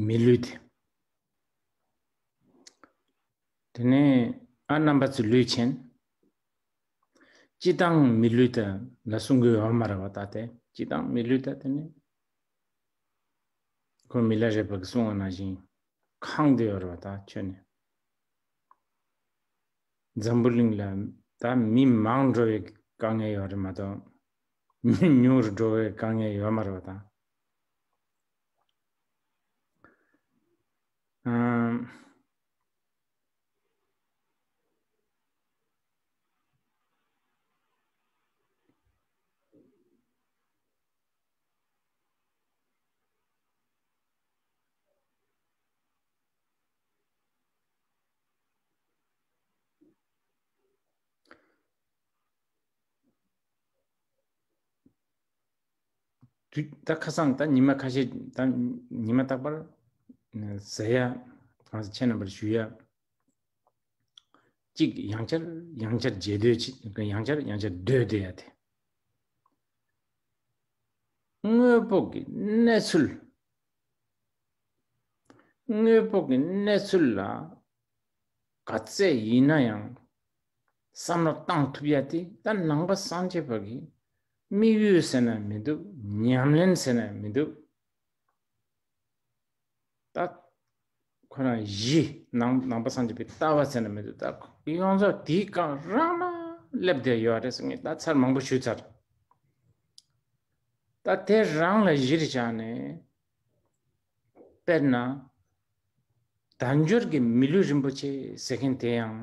མི་ལུས་ཏེ། དེ་ནས་ཨ་རྣམ་པ་ཚུ་ལུས་ཆེན། ཅི་བཏང་མི་ལུས་ད་ལ་སྲུང་གི་འོ་མ་ར་བ་ད་དེ་ཅི་བཏང་མི་ལུས་ད་དེ་ནས། ཁོ་མི་ལ་རེ་བ་གི་སྲུང་བ་ན་བཞིན་ཁང་དུ་ཡོ་ར་བ་ད་ཁྱོད་ནས། འཛམ་བུ་གླིང་ལ་ད་མི་མང་འགྲོ་བའི་དཀའ་ངལ་ཡོད་རེད་མ་གཏོགས། མི་ཉུང་རུ་འགྲོ་བའི་དཀའ་ངལ་ཡོད་མ་རེད་བ་དང། ད་ཁ་སང་ད་ཉི་མ་ཁ་ཤས་ད་ཉི་མ་རྟག་པར་ཟེ་ཡ་གང་ཟེ་ཆེན་རྣམ་པར་ཞུ་ཡ་གཅིག་ཡང་ཆར་ཡང་ཆར་རྗེས་ཟློས་ཆེ་ཡང་ཆར་ཡང་ཆར་ཟློས་ཟློས་ཡ་དེ་དངོས་པོ་གི་གནས་ཚུལ་དངོས་པོ་གི་གནས་ཚུལ་ལ་ག་ཚད་ཡིན་ན་ཡང་བསམ་བློ་གཏང་ཐུབ་ཡ་དེ་ད་ནང་པ་སངས་རྒྱས་པ་གི་དམིགས་ཡུལ་ཟེར་ན་མི་འདུག་ཉམས་ལེན་ཟེར་ན་མི་འདུག་ད། ཁོ་རང་བཞི། ནང་པ་སངས་རྒྱས་པའི་ལྟ་བ་ཟེར་ན་མི་འདུག་ད་ཡོངས་རྫོགས་དེའི་སྐབས་རང་ན་སླེབས་བསྡད་ཡོད་རེད་ཟེར་ངེས་ད་ཚར་མང་པོ་ཞུས་ཚར། ད་དེ་རང་ལ་གཞིར་བཞག་ནས་དཔེར་ན། དལ་འབྱོར་གྱི་མི་ལུས་རིན་པོ་ཆེ་ཟེར་མཁན་དེ་ཡང།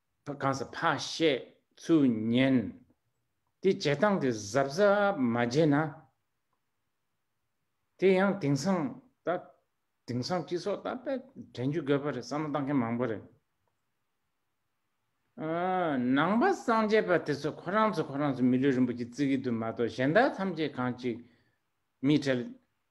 གང་ཟག་ཕ་བཤད་ཚུལ་ཉན། དེ་བྱེད་སྟངས་དེ་གཟབ་གཟབ་མ་བྱས་ན། དེ་ཡང་དེང་སང་ད་དེང་སང་སྤྱི་ཚོགས་ད་པད་དྲན་རྒྱུ་དགོས་པ་རེད་བསམ་བློ་བཏང་མཁན་མང་པོ་རེད། ནང་པ་སངས་རྒྱས་པ་དེ་ཚོ་ཁོ་རང་ཚོ་ཁོ་རང་ཚོ་མི་ལུས་རིན་པོ་ཆེ་བརྩི་གི་འདུག་མ་གཏོགས་གཞན་དག་ཐམས་ཅད་གང་ཅིག་མི་གྲལ་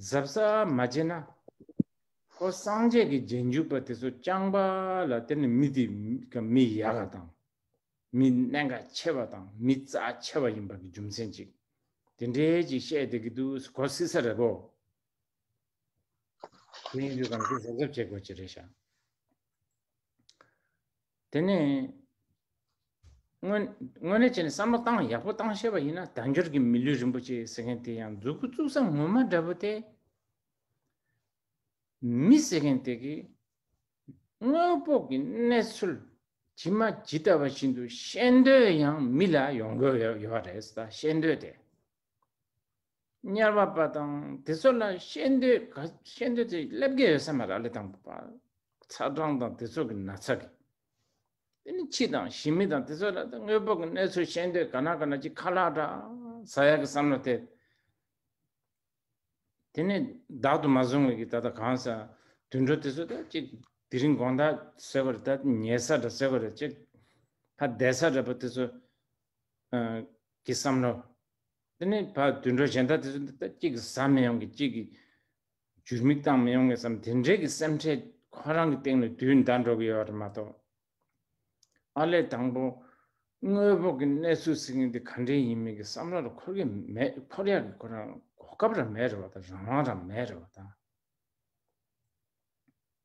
གཟབ་གཟབ་མ་བྱེད་ན། ཁོ་སངས་རྒྱས་ཀྱི་རྗེས་འཇུག་པ་དེ་ཚོ་རྐྱང་པ་ལ་དེ་ནི་མི་དེ་མི་ཡག་ག་དང། མི་གནད་འགག་ཆེ་བ་དང་མི་རྩ་ཆེ་བ་ཡིན་པ་གི་རྒྱུ་མཚན་ཅིག་དེ་འདྲས་ཅིག་བཤད་བསྡད་ཀྱི་འདུག་གོ་སྲིད་ས་རེད་བོ། དེ་ཡིན་དུས་གང་གི་གཟབ་གཟབ་བྱེད་དགོས་ཀྱི་རེད་ཤག། དེ་ནས་དངོས་དངོས་གནས་བྱས་ནས་བསམ་བློ་བཏང་ཡག་པོ་བཏང་ཤེས་པ་ཡིན་ན་དལ་འབྱོར་གྱི་མི་ལུས་རིན་པོ་ཆེ་ཟེར་མཁན་དེ་ཡང་མཛུ་གུ་བཙུགས་ས་ངོ་མ་འདྲ་པོ་སྟེ། མི་ཟེར་མཁན་དེ་གིས་དངོས་པོ་གི་གནས་ཚུལ་ཇི་མ་ཇི་ལྟ་བ་བཞིན་དུ་བཤད་འདོད་ཡང་མི་ལ་ཡོང་གི་ཡོད་པ་རེད་བཤད་འདོད་དེ། དམྱལ་བ་པ་དང་དེ་ཚོ་ལ་ཤེས་འདོད་ཤེས་འདོད་དེ་སླེབས་ཀྱི་ཡོད་ས་མ་ར་ལི་དང་པ་ཚ་གྲང་དང་དེ་ཚོ་གི་ན་ཚ་གི་དེ་ནི་ཁྱི་དང་ཞི་མི་དང་དེ་ཚོ་ལ་དངོས་པོ་གི་གནས་ཚུལ་ཤེས་འདོད་ག་ན་ག་ན་ཅིག་ཁ་ལག་འདྲ་ཟ་ཡག་གི་བསམ་བློ་དེ་དེ་ནི་བདག་ཏུ་མ་བཟུང་བའི་གི་ད་ད་གང་ཟ་དུད་འགྲོ་དེ་ཚོ་ད་ཅིག་དེ་རིང་དགོང་ད་ཟེར་བ་རེད་ད་ཉལ་ས་འདྲ་ཟེར་བ་རེད་ཅིག་ཧ་བསྡད་ས་འདྲ་པ་དེ་ཚོ་གི་བསམ་བློ། དེ་ནས་ཕ་དུད་འགྲོ་གཞན་དག་དེ་ཚོ་འདི་ལྟར་གཅིག་གི་བཟའ་མི་ཡོང་གི་གཅིག་གི་ཇུར་མིག་བཏང་མི་ཡོང་གི་བསམ་དེ་འདྲའི་གི་སེམས་ཁྲལ་ཁོ་རང་གི་སྟེང་ནས་དུས་འདའ་འགྲོ་གི་ཡོད་རེད་མ་གཏོགས། ཨ་ལས་དང་པོ་དངོས་པོ་གི་གནས་ཚུལ་ཟེར་མཁན་དེ་ག་འདྲའི་ཡིན་མིན་གི་བསམ་བློ་ར་འཁོར་གི་མེད་འཁོར་ཡག་གི་ཁོ་རང་གོ་སྐབས་ར་མེད་རེད་བ་དང་རང་དབང་ར་མེད་རེད་བ་དང།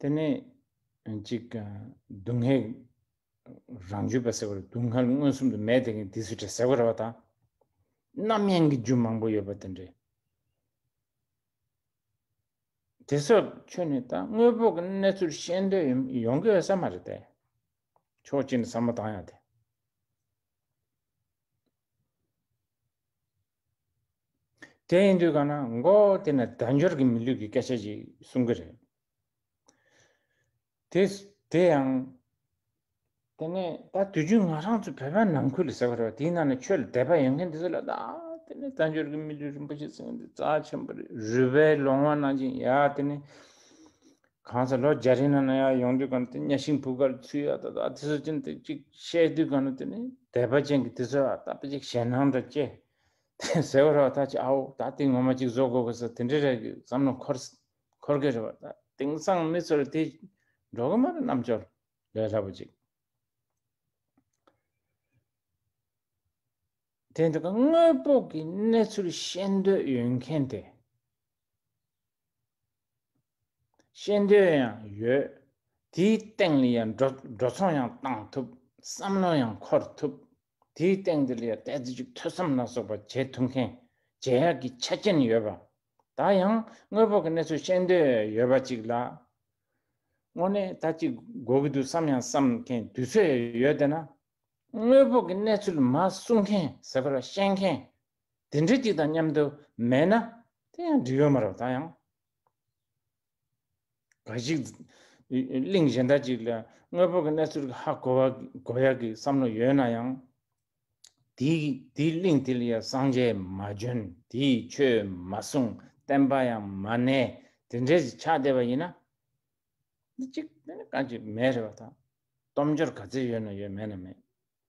དེ་ནི་གཅིག་སྡུག་བསྔལ་རང་རྒྱུད་པ་ཟེར་བ་ལ་སྡུག་བསྔལ་མངོན་སུམ་དུ་མེད་དེ་ངས་འདི་སུས་བྲལ་ཟེར་བ་རེད་པ་དང། རྣམ་གཡེང་གི་རྒྱུ་མང་པོ་ཡོད་པ་དེ་འདྲའི། དེ་སོགས་ཁྱོད་ནི་ད་དངོས་པོ་གི་གནས་ཚུལ་ཤེས་འདོད་ཡོང་གི་ཡོད་ས་མ་རེད་དེ། ཕྱོགས་གཅིག་ནས་བསམ་བློ་བཏང་ཡག་དེ། དེ་ཡིན་དུས་གང་ན་མགོ་དེ་ནས་དལ་འབྱོར་གྱི་མི་ལུས་ཀྱི་སྐད་ཆ་ཞིག་གསུང་གི་རེད། དེ་དེ་ཡང། དེ་ནས་ད་དུས་རྒྱུན་ང་རང་ཚོ་བོད་པའི་ནང་ཁུལ་ཟེར་བ་རེད་བ་དེའི་ནང་ནས་ཆོས་ལ་དད་པ་ཡོད་མཁན་དེ་ཚོ་ལ་ད་དེ་ནས་དལ་འབྱོར་གྱི་མི་ལུས་རིན་པོ་ཆེ་ཟེར་མཁན་དེ་རྩ་ཆེན་པོ་རེད་རུས་པའི་ལོང་བ་ནང་བཞིན་ཡ་དེ་ནས། གང་ཟག་ལོ་བརྒྱ་རིང་ན་ན་ཡག་ཡོང་དུས་གང་ན་དེ་གཉའ་ཤིང་བུ་གར་ཚུད་ཡག་ད་ད་དེ་ཚོ་ཅན་དེ་གཅིག་བཤད་དུས་གང་ན་དེ་ནི་དད་པ་ཅན་གྱི་དེ་ཚོ་ཨ་ད་པ་ཅིག་ཞེད་སྣང་འདྲ་སྐྱེ། དེ་ཟེར་བ་རོ་ད་ཅིག་ཨའོ་ད་དེ་ངོ་མ་གཅིག་བཟོ་དགོས་པ་ས་དེ་འདྲ་རེད་གི་བསམ་ན་འཁོར་འཁོར་གི་རེད་བ་ད་དེང་སང་མི་ཚོར་དེ་འགྲོ་གི་མ་རེད་རྣམ་འབྱོར་ལས་སླ་པོ་ཅིག་དེ་འདྲ་གི་དངོས་པོ་གི་གནས་ཚུལ་ཤེས་འདོད་ཡོད་མཁན་དེ། ཤེས་འདོད་ཡང་ཡོད། དེའི་སྟེང་ལ་ཡང་འགྲོ་ཚོང་ཡང་གཏང་ཐུབ། བསམ་བློ་ཡང་འཁོར་ཐུབ། དེའི་སྟེང་དེ་ལ་ཡང་གཏད་རྫི་ཅིག་ཐོས་བསམ་ལ་སོགས་པ་བྱེད་ཐུབ་མཁན་རྗེ་ཡག་གི་ཆ་རྐྱེན་ཡོད་པ། ད་ཡང་དངོས་པོ་གི་གནས་ཚུལ་ཤེས་འདོད་ཡོད་པ་ཅིག་ལ། དངོས་གནས་ད་ཅིག་དགོས་ཀྱི་འདུག་བསམ་ཡང་བསམ་མཁན་དུས་ཚོད་ཡང་ཡོད་དེ་ན། དངོས་པོ་གི་གནས་ཚུལ་མ་གསུང་མཁན་ཟེར་བ་ལ་ཤེས་མཁན་དེ་འདྲའི་གཅིག་དང་མཉམ་དུ་མེད་ན་དེ་ཡང་འབྲི་ཡོད་མ་རབས་ད་ཡང། ག་ཞིག། གླིང་གཞན་དག་ཅིག་ལ་དངོས་པོ་གི་གནས་ཚུལ་གྱི་ཧ་གོ་བ་གོ་ཡ་གི་བསམ་བློ་ཡོད་ན་ཡང། དེ་དེའི་གླིང་དེ་ལ་ཡང་གསང་རྒྱས་མ་བྱོན་དེས་ཆོས་མ་གསུངས་བསྟན་པ་ཡང་མ་གནས་དེ་འདྲས་སུ་ཆགས་བསྡད་པ་ཡིན་ན། འདི་གཅིག་དེ་ནི་ག་ཅིག་མེད་རེད་བ་ད། སྟོབས་འབྱོར་ག་ཚད་ཡོད་ན་ཡོད་མེད་ན་མེད།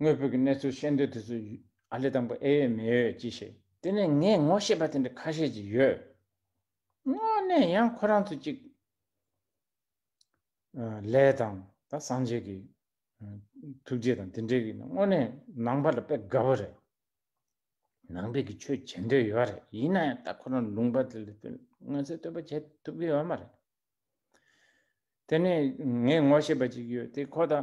ངོས་བོད་ཀྱི་གནས་ཚུལ་ཤེས་འདོད་དེ་ཚོ་ཨ་ལེ་དང་པོ་ཨེ་ཡོད་མེ་ཡོད་ཅི་ཤེས། དེ་ནས་ངས་ངོ་ཤེས་པ་དེ་འདྲ་ཁ་ཤས་ཅིག་ཡོད། དངོས་གནས་ཡང་ཁོ་རང་ཚོ་ཅིག། ལས་དང་ད་སངས་རྒྱས་ཀྱི། ཐུགས་རྗེ་དང་དེ་འདྲའི་གི་དངོས་གནས་ནང་པ་ལ་དཔེ་དགའ་བོ་རེད། ནང་པའི་གི་ཆོས་བྱེད་འདོད་ཡོད་རེད་ཡིན་ན་ཡང་ད་ཁོ་རང་ལུང་པ་དེ་ལ་མངོན་གསལ་དོད་པོ་བྱེད་ཐུབ་གི་ཡོད་མ་རེད། དེ་ནས་ངས་ངོ་ཤེས་པ་ཅིག་ཡོད་དེ་ཁོ་ད།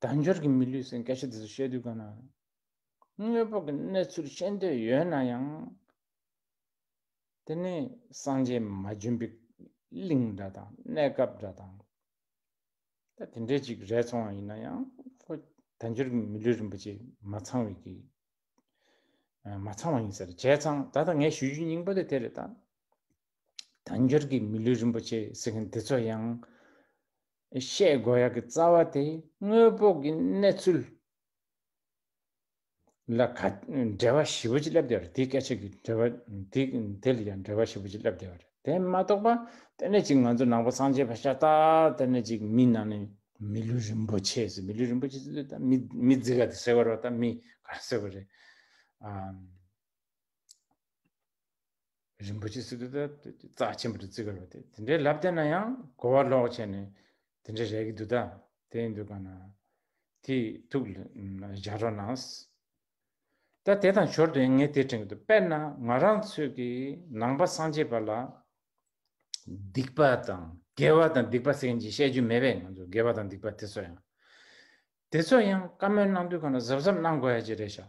དལ་འབྱོར་གྱི་མི་ལུས་སེང་གེ་ཤ་དེ་ཚོ་བཤད་དུས་དགའ་ནའང། དངོས་པོ་གི་གནས་ཚུལ་ཤེས་འདོད་ཡོད་ན་ཡང། དེ་ནི་སངས་རྒྱས་མ་བྱོན་པའི་གླིང་འདྲ་དང་གནས་སྐབས་འདྲ་དང། ད་དེ་འདྲའི་ཅིག་རལ་ཚོང་བ་ཡིན་ན་ཡང་ཁོ་དལ་འབྱོར་གྱི་མི་ལུས་རིན་པོ་ཆེ་མ་ཚང་བའི་གི། མ་ཚང་བ་ཡིན་ཟེར་བྱས་ཙང་ད་ལྟ་ངས་ཞུ་རྒྱུ་སྙིང་པོ་དེ་དེ་རེད་ད། དལ་འབྱོར་གྱི་མི་ལུས་རིན་པོ་ཆེ་ཟེར་མཁན་དེ་ཚོ་ཡང། བཤད་དགོས་ཡག་གི་རྩ་བ་དེ་དངོས་པོ་གི་གནས་ཚུལ་ལ་ག་འགྲེལ་བ་ཞིབ་པོ་ཅིག་བསླབ་བསྡད་པ་རེད་དེའི་སྐད་ཆ་གི་འགྲེལ་བ་དེ་དེ་ལ་ཡང་འགྲེལ་བ་ཞིབ་པོ་ཅིག་བསླབ་བསྡད་པ་རེད་དེ་མ་གཏོགས་པ་དེ་ནས་ཅིག་ང་ཚོ་ནང་པ་སངས་རྒྱས་བ་ཤ་སྟག་དེ་ནས་ཅིག་མི་ནང་ནས་མི་ལུས་རིན་པོ་ཆེ་ཟེར་མི་ལུས་རིན་པོ་ཆེ་ཟེར་ད་མི་མི་རྫི་ག་དེ་ཟེར་བ་རོ་ད་མི་ག་རེ་ཟེར་བ་རེད་ཨ། རིན་པོ་ཆེ་སི་ཏུ་ཏཱ་ཏུ་ཀྱི་རྩ་ཆེན་པོ་དུ་བརྩི་དགོས་པ་དེ་དེ་འདྲའི་ལབ་བསྟན་ན་ཡང་གོ་བ་ལོག་བྱས་ནས་དེ་འདྲའི་རེག་གི་འདུག་ད་དེ་ཡིན་འདུག་ག་ན་དེ་ཐུགས་ལ་འཇགས་རོགས་གནང། ད་དེ་དང་ཞོར་དུ་ཡང་ངས་དེ་དྲན་གི་འདུག་དཔེར་ན་ང་རང་ཚོས་ཀྱི་ནང་པ་སངས་རྒྱས་པ་ལ་སྡིག་པ་དང་དགེ་བ་དང་སྡིག་པ་ཟེར་མཁན་གྱི་བཤད་རྒྱུན་མེད་པས་ང་ཚོས་དགེ་བ་དང་སྡིག་པ་དེ་ཚོ་ཡང་དེ་ཚོ་ཡང་བཀའ་མོལ་གནང་དུས་ག་ན་གཟབ་གཟབ་གནང་དགོས་ཡ་གཅིག་རེད་ཤག།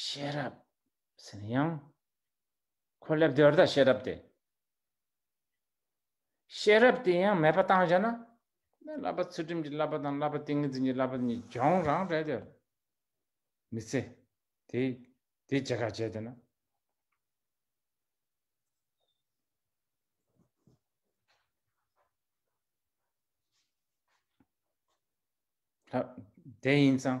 ཤེས་རབ་ཟེར་ན་ཡང་ཁོ་ལབ་དེ་བར་ད་ཤེས་རབ་དེ། ཤེས་རབ་དེ་ཡང་མེད་པ་བཏང་བྱས་ན་དེ་བསླབ་པ་ཚུལ་ཁྲིམས་ཀྱི་བསླབ་པ་དང་བསླབ་པ་ཏིང་ངེ་འཛིན་གྱི་བསླབ་པ་གཉིས་སྦྱོང་རང་རེད་དེ། མི་ཚེ་དེ་དེ་ཇི་ག་བྱས་དེ་ན། དེ་ཡིན་ཙང།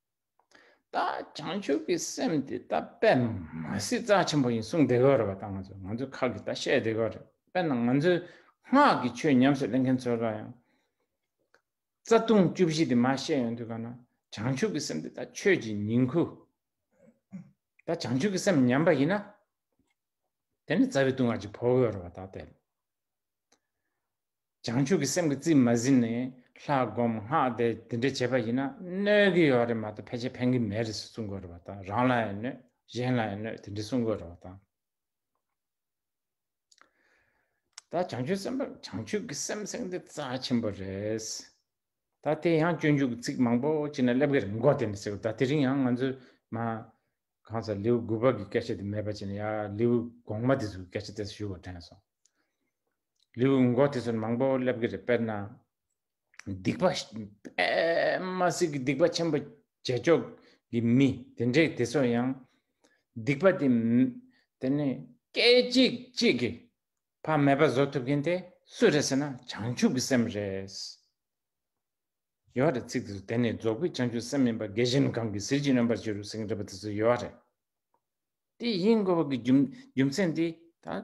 ད་བྱང་ཆུབ་ཀྱི་སེམས་དེ་ད་པད་མ་སྲིད་རྩ་ཆེན་པོ་ཡིན་གསུངས་བསྡད་གི་རེད་པ་ད་ང་ཚོ་ང་ཚོའི་ཁག་གིས་ད་བཤད་བསྡད་གི་རེད་དཔེར་ན་ང་ཚོའི་སྔགས་ཀྱི་ཆོས་ཉམས་སུ་ལེན་མཁན་ཚོ་ལ་ཡང་རྩ་ལྟུང་བཅུ་བཞི་དེ་མ་བཤད་ཡོང་དུས་ག་ན་བྱང་ཆུབ་ཀྱི་སེམས་དེ་ད་ཆོས་ཀྱི་ཉིང་ཁུ་ད་བྱང་ཆུབ་ཀྱི་སེམས་ཉམས་པ་ཡིན་ན་དེ་ནི་རྩ་བའི་ལྟུང་བ་ཅིག་བོར་གི་རེད་པ་ད་དེ་བྱང་ཆུབ་ཀྱི་སེམས་ཀྱི་རྩིས་མ་ཟིན་ནས་ལྷ་བསྒོམ་སྔགས་བཟླས་དེ་འདྲ་བྱས་པ་ཡིན་ན་གནོད་ཀྱི་ཡོད་རེད་མ་གཏོགས་ཕལ་ཆེར་ཕན་གྱི་མེད་རེད་ཟེར་གསུང་དགོས་རེད་བ་དང་རང་ལ་ཡང་གནོད་གཞན་ལ་ཡང་གནོད་དེ་འདྲ་གསུང་དགོས་རེད་བ་དང། ད་བྱང་ཆུབ་སེམས་དཔའ་བྱང་ཆུབ་ཀྱི་སེམས་སེང་དེ་རྩ་ཆེན་པོ་རེད། ད་དེ་ཡང་སྤྱོད་འཇུག་གི་ཚིག་མང་པོ་ཅི་ན་སླེབས་ཀྱི་རེད་འགོ་དེ་འདྲ་ཟེར་ད་དེ་རིང་ཡང་ང་ཚོས་མ་གང་ཟག་ལེའུ་དགུ་པ་གི་སྐད་ཆ་དེ་མེད་པ་ཅི་ན་ཡང་ལེའུ་གོང་མ་དེ་ཚོ་གི་སྐད་ཆ་དེ་ཚོ་ཞུ་བར་དྲན་སོང། ལེའུ་སྔོན་འགོག་དེ་ཚོར་མང་པོ་སླེབས་ཀྱི་རེད་དཔེར་ན། སྡིག་པ་པདྨ་སྲིད་ཀྱི་སྡིག་པ་ཆེན་པོ་རྗེས་ཕྱོགས་ཀྱི་མི་དེ་འདྲས་དེ་ཚོ་ཡང། སྡིག་པ་དེ། དེ་ནི་སྐད་ཅིག་གཅིག་གིས་ཕ་མེས་པ་བཟོ་ཐུབ་མཁན་དེ་སུ་རེད་ཟེར་ན་བྱང་ཆུབ་ཀྱི་སེམས་རེད། ཡོད་རེད་ཚིག་དེ་ཚོ་དེ་ནི་རྫོགས་པའི་བྱང་ཆུབ་སེམས་མིན་པ་རྒས་གཞོན་གང་གིས་ཟིལ་གྱིས་གནོན་པར་བྱེད་རུང་ཟིང་འདྲ་པོ་དེ་ཚོ་ཡོད་རེད། དེ་ཡིན་དགོས་པ་གི་རྒྱུ་མཚན་དེ་ད།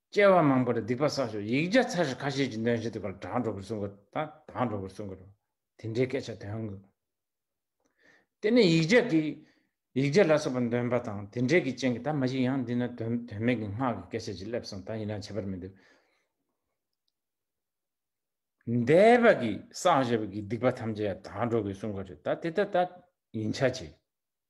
སྐྱེ་བ་མང་པོར་སྡིག་པ་བསགས་ཤིང་ཡིག་བརྒྱ་ཚར་བཞི་ཁ་ཤས་ཀྱི་འདོན་བྱེད་དུ་པར་སྒྲ་འགྲོ་བར་བསྲུང་དགོས་དང་དག་འགྲོ་བར་བསྲུང་དགོས་རོ། དེ་འདྲའི་སྐད་ཆ་འདོན་དགོས། དེ་ནས་ཡིག་བརྒྱ་གིས། ཡིག་བརྒྱ་ལ་སོགས་པ་འདོན་པ་དང་དེ་འདྲའི་གི་ཅན་གྱི་ད་མ་ཞིག་ཡང་འདི་ན་དོན་དོན་མེད་ཀྱི་སྔགས་ཀྱི་སྐད་ཆ་ཅིག་སླེབས་སོང་ད་ཡིན་ན་བྱེད་པར་མི་འདུག། འདས་པ་གིས་བསགས་བཞེས་པ་གིས་སྡིག་པ་ཐམས་ཅད་ཡང་དག་འགྲོ་དགོས་བསྲུང་དགོས་རེད་ད་དེ་ལྟར་ད་ཡིན་ཆ་ཅི།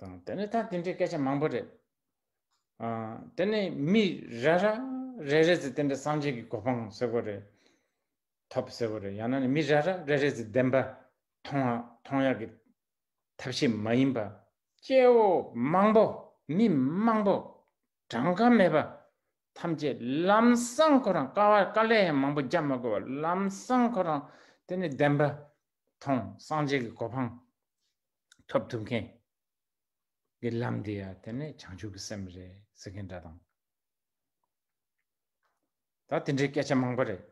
དང་དེ་ནི་ད་དེ་འདྲའི་སྐད་ཆ་མང་པོ་རེད་ཨ་དེ་ནི་མི་ར་ར་རེ་རེ་ཚོས་དེ་འདྲ་སངས་རྒྱས་ཀྱི་གོ་འཕང་ཟེར་བ་རེད་ཐོབ་ཟེར་བ་རེད་ཡང་ན་ནི་མི་ར་ར་རེ་རེ་ཚོས་བདེན་པ་མཐོང་མཐོང་ཡག་གི་ཐབས་ཤེས་མ་ཡིན་པ། སྐྱེ་བོ་མང་པོ་མི་མང་པོ་གྲངས་ཀ་མེད་པ་ཐམས་ཅད་ལམ་སང་ཁོ་རང་དཀའ་བ་དཀའ་ལས་ཡང་མང་པོ་རྒྱག་མ་དགོས་པར་ལམ་སང་ཁོ་རང་དེ་ནི་བདེན་པ་ཐོང་སངས་རྒྱས་ཀྱི་གོ་འཕང་ཐོབ་ཐུབ་མཁན་གྱི་ལམ་དེ་ཡང་དེ་ནི་བྱང་ཆུབ་ཀྱི་སེམས་རེད་ཟེར་མཁན་འདྲ་དང། ད་དེ་འདྲའི་སྐད་ཆ་མང་པོ་རེད།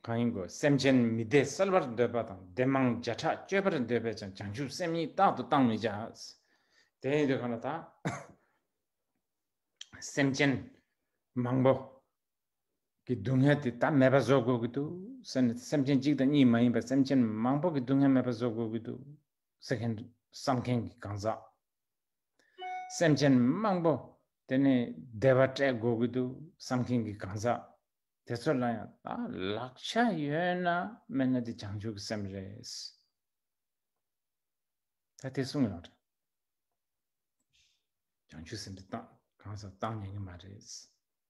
གང་ཡིན་དགོས་སེམས་ཅན་མི་བདེ་གསལ་བར་འདོད་པ་དང་བདེ་མང་བརྒྱ་ཕྲག་སྤྱོད་པར་འདོད་པས་ཀྱང་བྱང་ཆུབ་སེམས་གཉིས་རྟག་ཏུ་བཏང་མི་བྱ། དེ་ཡིན་དུས་གང་ལ་ད་སེམས་ཅན་མང་པོ་གི་སྡུག་བསྔལ་དེ་དག་མེད་པ་བཟོ་དགོས་ཀྱི་འདུག་ཟེར་ནས་སེམས་ཅན་གཅིག་དང་གཉིས་མ་ཡིན་པར་སེམས་ཅན་མང་པོ་གི་སྡུག་བསྔལ་མེད་པ་བཟོ་དགོས་ཀྱི་འདུག་ཟེར་མཁན་དུ་བསམ་མཁན་གྱི་གང་ཟག་སེམས་ཅན་མང་པོ་དེ་ནི་བདེ་བ་སྤྲད་དགོས་ཀྱི་འདུག་བསམ་མཁན་གྱི་གང་ཟག་དེ་ཚོ་ལ་ཡང་ད་ལག་ཆ་ཡོད་ན་མེད་ན་དེ་བྱང་ཆུབ་ཀྱི་སེམས་རེད། ད་དེ་གསུངས་ཡོང་རེད། བྱང་ཆུབ་སེམས་དེ་གང་ཟག་བཏང་ཉན་གྱི་མ་རེད།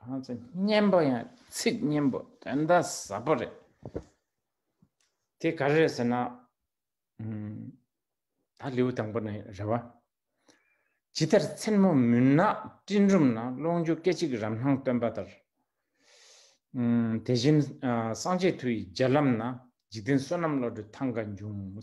གང་ཚེ་སྙན་པོ་ཡང་ཚིག་སྙན་པོ་དོན་དག་ཟབ་པོ་རེད། དེ་ག་རེད་ཟེར་ན། ད་ལེའུ་དང་པོ་ནས་རེད་བ། ཇི་ལྟར་མཚན་མོ་མུན་ནག་སྤྲིན་རུམ་ན་ཀློང་ཆུ་སྐད་ཅིག་རམ་སྣང་སྟོན་པ་ལྟར། དེ་བཞིན་སངས་རྒྱས་མཐུ་ཡི་རྒྱལ་ལམ་ན་འཇིག་རྟེན་བསོད་ནམས་བློ་གྲོས་ཐང་ག་འབྱུང།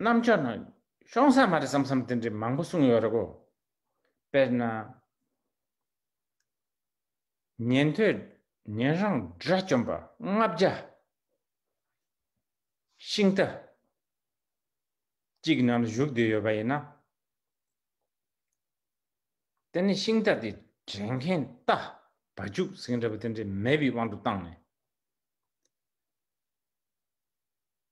རྣམ་དཔྱོད་ནང་གཤོང་ས་མ་རེད་བསམ་བསམ་དེ་འདྲའི་མང་པོ་གསུངས་ཡོད་རེད་གོ། དཔེར་ན། ཉན་ཐོས་ཉན་རང་དགྲ་བཅོམ་པ་ལྔ་བརྒྱ། ཤིང་རྟ། གཅིག་གི་ནང་དུ་བཞུགས་བསྡད་ཡོད་པ་ཡིན་ན། དེ་ནི་ཤིང་རྟ་དེ་དྲན་མཁན་རྟ་བ་རྒྱུག་ཟིང་རེད་པ་དེ་འདྲའི་མེད་པའི་དབང་དུ་བཏང་ནས།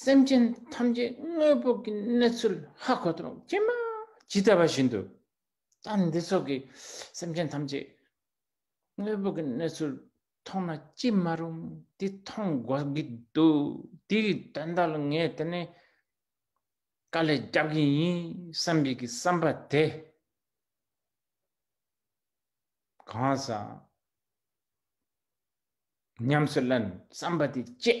སེམས་ཅན་ཐམས་ཅད་དངོས་པོ་གི་གནས་ཚུལ་ཧ་གོ་དང་ཀྱེ་མ་ཇི་ལྟ་བ་བཞིན་དུ་ད་འདི་སོགས་ཀྱི་སེམས་ཅན་ཐམས་ཅད་དངོས་པོ་གི་གནས་ཚུལ་མཐོང་ན་ཅི་མ་རུང་དེ་མཐོང་དགོས་ཀྱི་འདུག་དེའི་དོན་དག་ལ་ངས་དེ་ནས་དཀའ་ལས་རྒྱབ་ཀྱི་ཡིན་བསམ་པའི་གི་བསམ་པ་དེ་གང་ཟག་ཉམས་སུ་ལེན་བསམ་པ་དེ་སྐྱེས།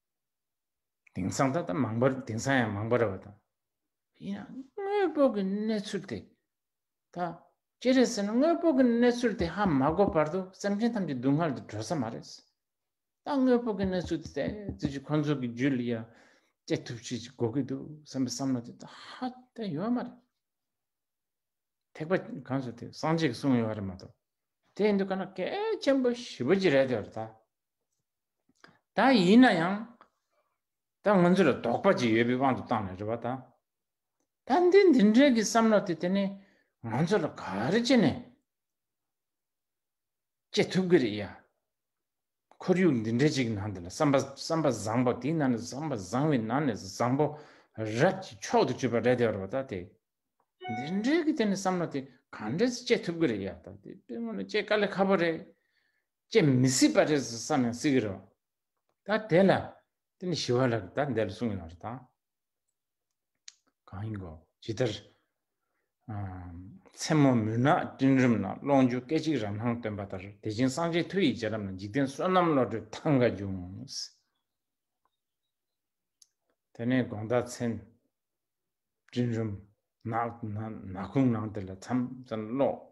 དེང་སང་ད་ལྟ་མང་པར་དེང་སང་ཡང་མང་པར་བ་དང། ཡིན་ཡང་དངོས་པོ་གི་གནས་ཚུལ་དེ་ད་ཅི་རེད་ཟེར་ན་དངོས་པོ་གི་གནས་ཚུལ་དེ་ཧ་མ་གོ་བར་དུ་སེམས་ཅན་ཐམས་ཅད་སྡུག་བསྔལ་དུ་འགྲོ་ས་མ་རེད། ད་དངོས་པོ་གི་གནས་ཚུལ་དེ་དེ་ཙི་ཅི་ཁོང་ཚོ་གི་རྒྱུད་ལ་ཡང་སྐྱེ་ཐུབ་ཅིག་ཅིག་དགོས་ཀྱི་འདུག་བསམ་པའི་བསམ་བློ་དེ་ད་ཧ་དེ་ཡོད་མ་རེད། ཐེག་པ་གང་ཟེར་དེ་སངས་རྒྱས་ཀྱི་གསུང་ཡོད་རེད་མ་གཏོགས་དེ་ཡིན་དུས་ཁ་ན་གལ་ཆེན་པོ་ཞི་བ་ཅིག་རེད་དེ་བར་ད། ད་ཡིན་ན་ཡང་ད་ང་ཚོ་ལ་དོགས་པ་ཅིག་ཡོད་པའི་དབང་དུ་བཏང་ནས་རེད་པ་ད། ད་འདི་འདི་འདྲའི་གི་བསམ་བློ་དེ་དེ་ནས་ང་ཚོ་ལ་ག་རེ་བྱེད་ནས་བྱེད་ཐུབ་གི་རེད་ཡ། ཁོར་ཡུག་འདི་འདྲའི་ཅིག་ནང་དེ་ལ་བསམ་པ་བསམ་པ་བཟང་པོ་དེ་ནང་ནས་བསམ་པ་བཟང་བའི་ནང་ནས་བཟང་པོ་རབ་ཀྱི་མཆོག་ཏུ་གྱུར་པ་རེད་དེ་རེད་པ་ད་དེ། འདི་འདྲའི་གི་དེ་ནས་བསམ་བློ་དེ་ག་འདྲས་སུ་བྱེད་ཐུབ་གི་རེད་ཡ་ད་དེ་དཔེ་ངོ་ན་བྱེད་ག་ལེ་ཁ་པོ་རེད། བསྐྱེད་མི་སྲིད་པ་རེད་ཟེར་བསམ་ཡང་སྲིད་ཀྱི་རེད། ད་དེ་ལ་དེ་ནི་ཞི་བ་ལ་ད་འདས་ལ་གསུངས་ཡོད་པ་རེད་ད། གང་ཡིན་དགོས་ཇི་ལྟར། མཚན་མོ་མུན་ནག་སྤྲིན་རིམ་ན་ཀློང་བཅུ་སྐད་ཅིག་རང་སྣང་སྟོན་པ་ལྟར་དེ་བཞིན་སངས་རྒྱས་མཐུ་ཡི་རྗེས་རབས་ན་འཇིག་རྟེན་བསོད་ནམས་བློ་གྲོས་ཐང་ག་འབྱུང། དེ་ནས་དགོངས་བརྡ་མཚན། སྤྲིན་རིམ་ནག་ན་ནག་ཁུང་ནང་དེ་ལ་མཚམས་ཙམ་བློགས།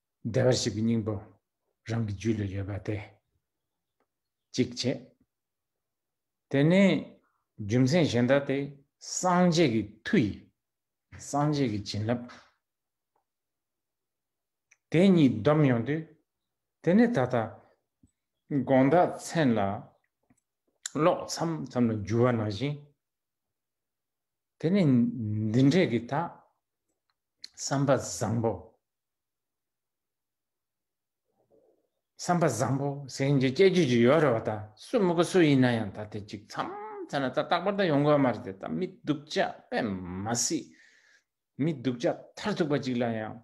བདེ་བར་གཤེགས་པའི་སྙིང་པོ་རང་གི་རྒྱུད་ལ་ཡོད་པ་དེ་གཅིག་བྱེད། དེ་ནས་རྒྱུ་མཚན་གཞན་དག་སྟེ་སངས་རྒྱས་ཀྱི་མཐུ་ཡིས་སངས་རྒྱས་ཀྱི་བྱིན་རླབས་དེ་གཉིས་བསྡོམས་ཡོང་དུས་དེ་ནི་ད་ལྟ་དགོངས་དག་མཚན་ལ་ཀློག་མཚམས་ཙམ་ལ་འགྱུར་བ་ན་བཞིན། དེ་ནི་འདི་འདྲས་ཀྱི་དག་བསམ་པ་བཟང་པོ་བསམ་པ་བཟང་པོ་གཟེངས་ཀྱི་སྐྱེ་རྒྱུད་ཀྱི་ཡོད་རེད་བ་ད་སུ་མི་གོ་སུ་ཡིན་ན་ཡང་ད་དེ་གཅིག་མཚམས་བྱས་ན་ད་རྟག་པར་ད་ཡོང་དགོས་མ་རེད་དེ་ད་མི་སྡུག་ཅག་པས་མ་སྲིད། མི་སྡུག་ཅག་མཐར་ཐུག་པ་གཅིག་ལ་ཡང་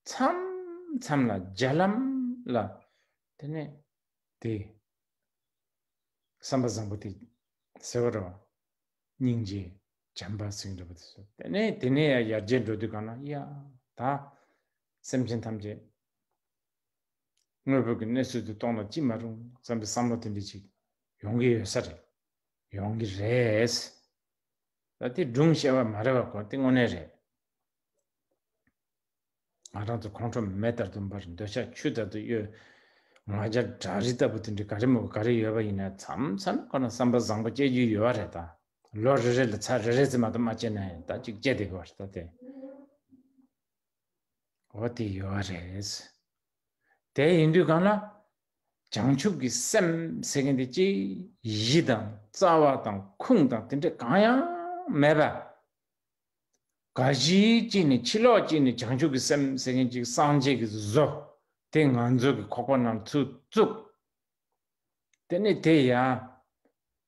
མཚམས་མཚམས་ལ་རྒྱ་ལམ་ལ་དེ་ནས་དེ་བསམ་པ་བཟང་པོ་དེ་ཟེར་བ་རེད་བ་སྙིང་རྗེ། བྱམས་པ་སེང་རི་བ་དེ་སོ་དེ་ནས་དེ་ནས་ཡར་རྒྱས་འགྲོ་དུས་གང་ན་ཡ་ད་སེམས་ཅན་ཐམས་ཅད་དངོས་པོ་གི་གནས་ཚུལ་དུ་གཏོང་ན་ཅི་མ་རུང་བསམ་པའི་བསམ་བློ་དེ་འདྲི་ཅིག་ཡོང་གི་ཡོད་ས་རེད་ཡོང་གི་རེད། ད་དེ་སྒྲུང་བཤད་པ་མ་རེད་བ་གོ་དེ་དངོས་གནས་རེད། ང་རང་ཚོ་ཁོང་ཁྲོ་མེ་ལྟར་དུ་འབར་འདོད་ཆ་ཆུ་ལྟར་དུ་གཡོ་ང་རྒྱ་བྲག་རི་ལྟ་བུ་དེ་འདྲ་ག་རེ་མོ་ག་རེ་ཡོད་པ་ཡིན་ན་མཚམས་མཚམས་ཁོ་ན་བསམ་པ་བཟང་པོ་སྐྱེ་རྒྱུ་ཡོད་བ་རེད་ད། ལོ་རེ་རེ་ལ་ཚ་རེ་རེ་ཙམ་མ་དམ་མ་བཅད་ན་ཡང་ད་ཅིག་བཅད་དེ་གོ་བར་ད་དེ་འོ་དེ་ཡོ་རེས་དེ་ཡིན་དུས་གང་ན་བྱང་ཆུབ་ཀྱི་སེམས་སེ་གེན་དེ་ཅི་ཡི་དང་རྩ་བ་དང་ཁུང་དང་དེ་འདྲ་གང་ཡང་མེད་པ་ག་གཞི་ཅིག་ནས་ཕྱི་ལོགས་ཅིག་ནས་བྱང་ཆུབ་ཀྱི་སེམས་སེ་གེན་ཅིག་སངས་རྒྱས་ཀྱི་བཟོ་དེ་ང་ཚོ་གི་ཁོག་པ་ན་ཚུར་བཙུགས་དེ་ནས་དེ་ཡང་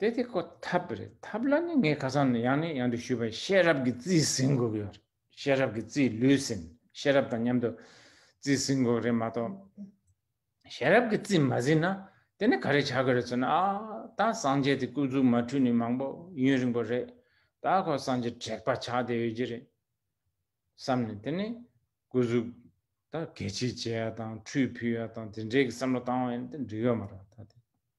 དེ་དེ་ཁོ་ཐབས་རེད་ཐབས་ལ་ནི་ངས་ཁ་སང་ནས་ཡང་ནས་ཡང་དུ་ཞུས་པ་ཤེས་རབ་ཀྱི་རྩིས་ཟིན་དགོས་ཀྱི་ཡོད་རེད་ཤེས་རབ་ཀྱི་རྩིས་ལུས་ཟིན་ཤེས་རབ་དང་མཉམ་དུ་རྩིས་ཟིན་དགོས་ཀྱི་རེད་མ་གཏོགས་ཤེས་རབ་ཀྱི་རྩིས་མ་ཟིན་ན་དེ་ནི་ག་རེ་བྱ་དགོས་རེད་ཟེར་ན་ཨ་ད་སངས་རྒྱས་དེ་སྐུ་གཟུགས་མ་འཁྲུལ་ནས་མང་པོ་ཡུན་རིང་པོ་རེད་ད་ཁོ་སངས་རྒྱས་དྲེགས་པ་ཆགས་ཏེ་ཡོད་ཀྱི་རེད་བསམ་ནས་དེ་ནི་སྐུ་གཟུགས་ད་གད་ཕྱིས་བྱས་ཡ་དང་ཁྲུས་ཕུལ་ཡ་དང་དེ་འདྲའི་གི་བསམ་བློ་བཏང་བ་ཡིན་ཏེ་འགྲིག་ཡོད་མ་རེད་ད་དེ།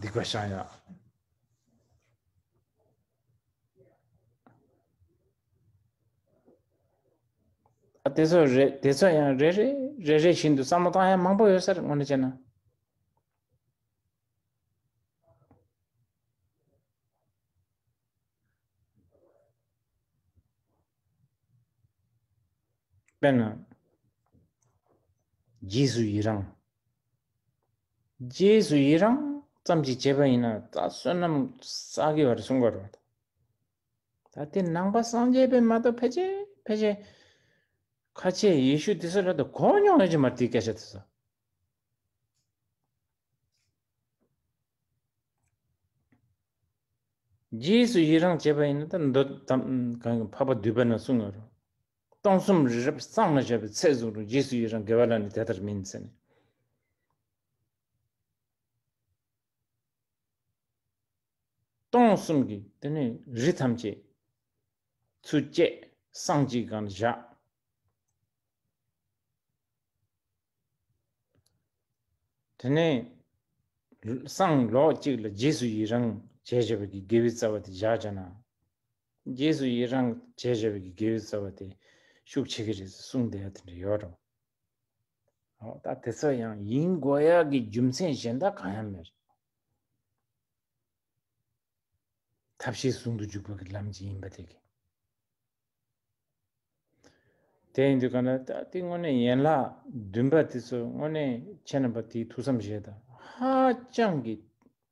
སྡིག་པ་བཤགས་ཡ། དེ་ཚོ་རེ་དེ་ཚོ་ཡང་རེ་རེ་རེ་རེ་བཞིན་དུ་བསམ་བློ་བཏང་ཡ་མང་པོ་ཡོད་སར་ངོ་ནས་བྱས་ན་དཔེར་ན་རྗེས་སུ་ཡི་རང་རྗེས་སུ་ཡི་རང་ཙམ་གྱིས་བྱེད་པ་ཡིན་ན་རྩ་བསོད་ནམས་བསགས་དགོས་པར་གསུངས་པ་རེད། ད་ལྟའི་ནང་པ་སངས་རྒྱས་པས་མ་གཏོགས་ཕལ་ཆེར་ཕལ་ཆེར་ཁ་ཆེའི་ཡེ་ཤུ་དེ་སོགས་རབ་ཏུ་གོ་མྱོང་ཡོད་ཀྱི་མར་དེའི་སྐད་ཆ་དེ་ཚོ། རྗེས་སུ་ཡི་རང་བྱེད་པ་ཡིན་ན་ད་འདོད་དམ་གང་གིས་འཕགས་པ་འདུས་པ་ན་གསུངས་ཡོད་རོ། སྟོང་གསུམ་རི་རབ་གཙང་མ་བྱས་པའི་ཚད་བཟུང་རུང་རྗེས་སུ་ཡི་རང་དགེ་བ་ལ་ནི་དེ་ལྟར་མིན་ཟེར། སྟོང་གསུམ་གྱི་དེ་ནས་རི་ཐམས་ཅད་ཚུལ་བཅས་སྲང་གཅིག་གང་ན་བཞག། དེ་ནས་སྲང་ལོགས་གཅིག་ལ་རྗེས་སུ་ཡི་རང་བྱས་བྱས་པ་ཀྱི་དགེ་བའི་རྩ་བ་དེ་བཞག་བྱས་ན། རྗེས་སུ་ཡི་རང་བྱས་ཞེས་པའི་གི་གེའུའི་རྩ་བ་དེ་ཤུགས་ཆེ་གི་རེད་ཟེར་གསུངས་བསྡད་ཡོད་དེ་འདྲ་ཡོད་རོ། ཨོ་ད་དེ་ཚོ་ཡང་ཡིན་དགོས་ཡ་གི་རྒྱུ་མཚན་གཞན་དག་གང་ཡང་མེད་རེད། ཐབས་ཤེས་ཟུང་དུ་འཇུག་པ་གི་ལམ་གྱི་ཡིན་པ་དེ་གི། དེ་ཡིན་དུས་གང་ལྟར་ད་དེ་དངོས་གནས་ཡན་ལག་བདུན་པ་དེ་ཚོ་དངོས་གནས་ཁྱེད་རྣམ་པ་དེའི་ཐུགས་བསམ་བཞེད་དང་ཧ་ཅང་གི་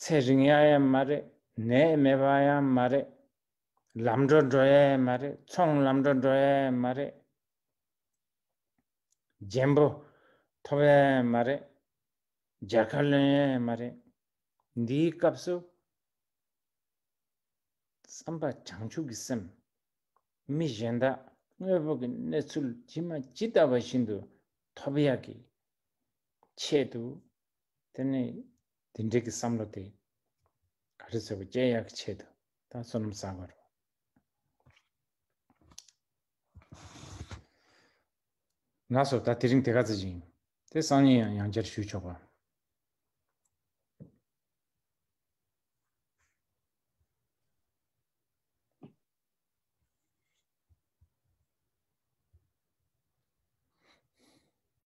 ཚེ་རིང་ཡ་ཡ་མ་རེད་ནད་མེད་པ་ཡ་མ་རེད། ལམ་འགྲོ་འགྲོ་ཡ་ཡ་མ་རེད་ཚོང་ལམ་འགྲོ་འགྲོ་ཡ་ཡ་མ་རེད། རྒྱན་པོ་ཐོབ་ཡ་ཡ་མ་རེད། སྦྱར་ཁ་ལོན་ཡ་ཡ་མ་རེད། འདིའི་སྐབས་སུ། བསམ་པ་བྱང་ཆུབ་ཀྱི་སེམས། མི་གཞན་དག་དངོས་པོ་གི་གནས་ཚུལ་ཇི་མ་ཇི་ལྟ་བ་བཞིན་དུ་ཐོབ་ཡག་གི་ཆེད་དུ། དེ་ནི་དེ་འབྲེལ་གྱི་བསམ་བློ་དེ། ག་རེ་ཟེར་བ་དཔྱད་ཡག་གི་ཆེད་དུ་ད་བསོད་ནམས་བསགས་པ་རེད། ང་ཚོར་ད་དེ་རིང་དེ་ག་ཚོད་ཅིག་ཡིན། དེ་སང་ཉིན་ཡང་ཡང་བསྐྱར་ཞུས་ཆོག་པ།